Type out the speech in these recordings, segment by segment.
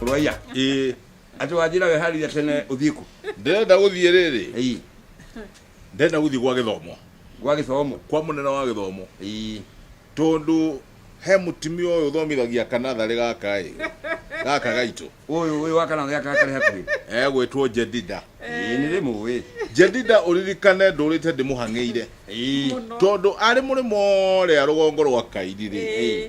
Rwaiya. Ĩĩ, Ati wajira weharire tene uthiku. ndĩrenda gũthiĩ rĩrĩ Ei. ndĩrenda gũthiĩ gwa gĩthomo Gwa githomo. kwa mũnene wa gĩthomo Ei. tondũ he mũtimia ũyũ ũthomithagia kanatharĩ gaka ĩ gaka gaitũ Uyu uyu wakana gya kakare hakuhi. egwĩtwo jedida Ei ni rimu we. jedida ũririkane ndũrĩte ndĩmũhang'ĩire Ei. tondũ arĩ mũrĩmo rĩa rũgongo rwa kairi rĩ Ĩĩ.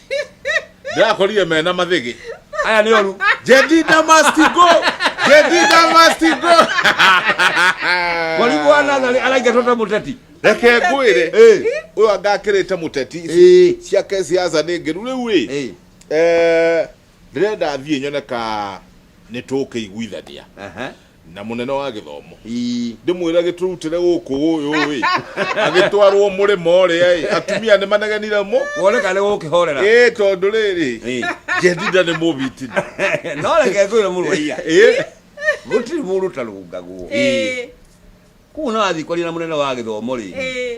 ndĩrakorire mena mathĩgĩ aya nĩ oru jedida must go jedida must go mwarimũ wa natharĩ araingatwo ta mũteti reke ngwĩre Eh, ũyũ angakĩrĩte mũteti eh, ciake ciaca nĩ ngĩru rĩu ĩ eh. eh, rĩrĩa ndathiĩ nyone ka nĩ tũkĩiguithania Aha. na mũnene wa gĩthomo Ii. ndĩmwĩra gĩtũrutĩre gũkũ ũyũ-ĩ agĩtwarwo mũrĩma ũrĩa-ĩ atumia nĩ manegenire mũ wone kana nĩ gũkĩhorera ĩ tondũ rĩrĩ Ĩ. ngendinda nĩ mũbitini no reke ngwĩre mũrũaiya Ĩ, gũtirĩ mũndũ ũtarũngagwo Ĩ, kuo no athiĩ kwaria na mũnene wa gĩthomo rĩ ĩ,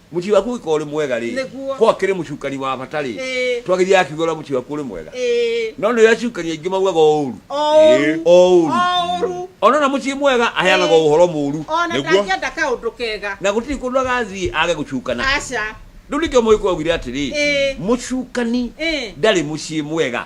Mũciĩ waku ũngĩkorwo ũrĩ mwega rĩ, Nĩguo. korwo akĩrĩ mũcukani wa bata rĩ, Ĩĩ. twagĩria akiuga ũrĩa mũciĩ waku ũrĩ mwega. Ĩĩ. No nĩ acukani aingĩ maugaga o ũru. Oru. O ũru. Oru. Ona na mũciĩ mwega aheanaga Ĩĩ. ũhoro mũru. Ona Nĩguo. ndangĩenda kaũndũ kega. Na gũtirĩ kũndũ agathiĩ age gũcukana. Aca. Rĩu nĩkĩo Mũgĩkũyũ augire atĩrĩ, Ĩĩ. mũcukani Ĩĩ. ndarĩ mũciĩ mwega.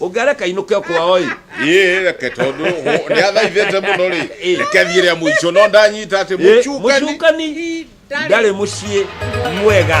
ũngĩareka inũke kwao-ĩ ĩĩ reke tondũ hũ- nĩathaithĩte mũno rĩ Ĩĩ. reke thiĩ rĩa mũico no ndanyita atĩ Ĩ, mũcukani mũcukani ndarĩ mũciĩ mwega